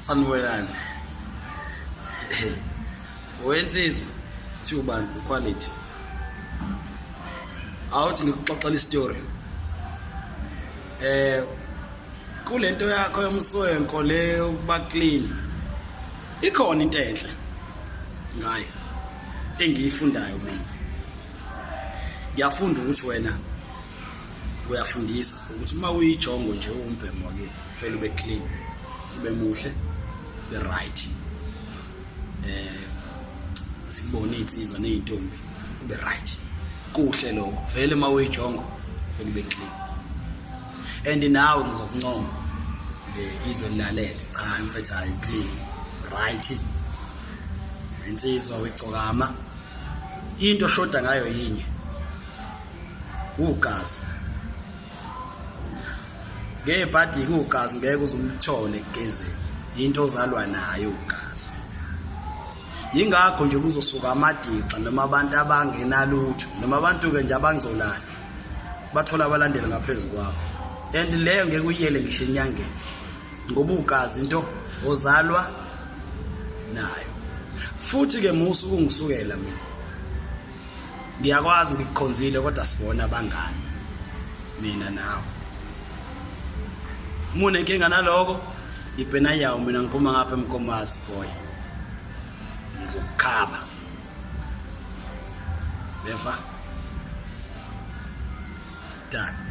Sanwelani. Wensizwa thi ubani quality. Awuthi ngikuxoxela istory. Eh kulento yakho yomswenko le ukuba clean. Ikhona into enhle ngayo engiyifundayo mina. Ngiyafunda ukuthi wena uyafundisa ukuthi uma uyijongo nje uwumbhemo ke ufela ube clean ube muhle be right eh sibone insizwa nezintombi ube right kuhle lokho vele uma uyijongo ufela ube clean and nawe ngizokuncoma nje izwe lilalele cha mfethu hayi clean right insizwa uyigcokama into shoda ngayo yinye ugazi ngebhadi kugazi ngeke uzumthole egezini into ozalwa nayo ugazi yingakho nje kuzosuka amadixa noma abantu abangenalutho noma abantu-ke nje abangcolayo bathola abalandeli ngaphezu kwabo and leyo ngeke uyiyele ngisho enyangeni ngoba ugazi into ozalwa nayo futhi-ke musa ukungisukela mina ngiyakwazi ngikukhonzile kodwa sibona abangani mina nawe mune nkinga naloko ibhena yawo mina ngiphuma ngapha emkomazi boy ngizokukhaba beva done